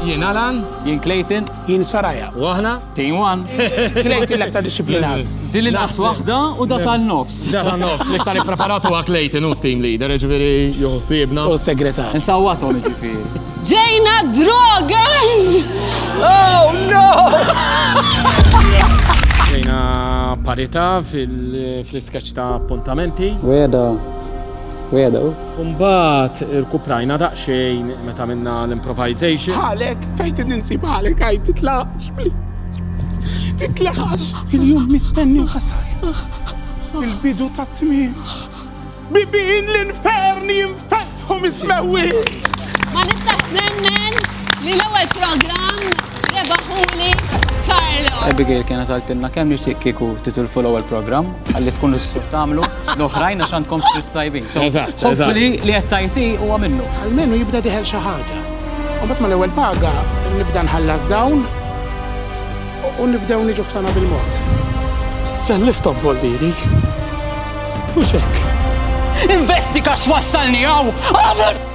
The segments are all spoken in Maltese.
Jien Alan. Jien Clayton. Jien Saraja. U aħna? Team One. Clayton l-aktar disciplinat. Din il-qas waħda u da tan-nofs. Da tan-nofs, l-iktar ippreparatu għak Clayton u team leader, ġviri juħsibna. U segretar. Nsawatom ġifiri. Ġejna drogas! Oh no! Ġejna parita fil-iskaċ ta' appuntamenti. Weda, weda, Mbagħad irkuprajna daqsxejn meta minna l-improvisation. Ħalek, fejn tin ninsib ħalek għajt titlaqx, titlaqx. Il-jum mistenni ħasajna. Il-bidu ta' tmien. Bibin l-infern jinfetħu mis-mewit. Ma nistax nemmen li l-ewwel programm rebaħuli Carlo. Abigail kienet għaltilna kemm nixtieq kieku titulfu l-ewwel programm Għalli tkun l-issu tamlu l-oħrajn għax għandkom xris tajbin. Eżatt. Hopefully li qed tajti huwa minnu. Almenu jibda diħel xi ħaġa. U mbagħad mal-ewwel paga nibda nħallas dawn u nibdew niġu f'sana bil-mod. Selliftom volviri. U xek. Investi kax wassalni għaw!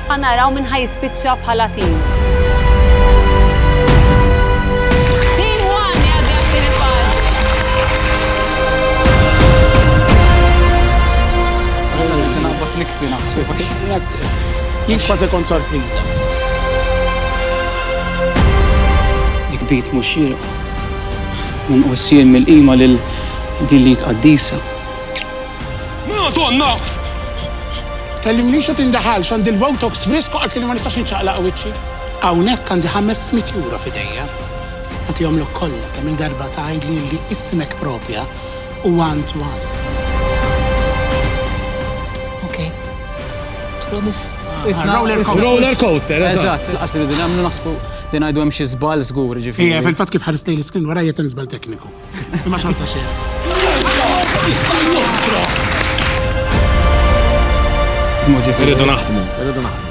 Ħa naraw min ħa jispiċċa bħala tim. nikbi naħseb. Jien kważi kont sorpriża. Nikbit mhux xieraq. Minqus jien mill-qima lil din li tqaddisa. Madonna! Tkellimnix u tindaħalx, għandi l-Votox frisk u qaltli li ma nistax inċaqlaq wiċċi. Hawnhekk għandi ħames mitt ewro f'idejja. Nagħtihomlok kollha kemm-il darba tgħidli li ismek proprja huwa Antoine. Okej. Titlobu f'. Roller coaster. Roller coaster, eżatt. Eżatt, lanqas irridu nemmnu naħsbu li ngħidu hemm xi żball żgur, jiġifieri. Iva, fil-fatt kif ħarist lejn l-iskrin warajja hemm żball tekniku. Imma xorta xejn. Irridu naħdmu. Irridu naħdmu.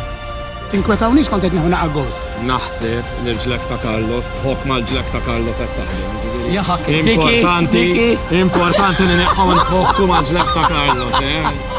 Tinkwetawniex kont qed nieħu naqa' gost. Naħseb li l-ġlek ta' Carlos tħobb mal-ġlek ta' Carlos qed taħdem. Jaħak, importanti, importanti li neħħu nħokku mal-ġlek ta' Carlos, eh?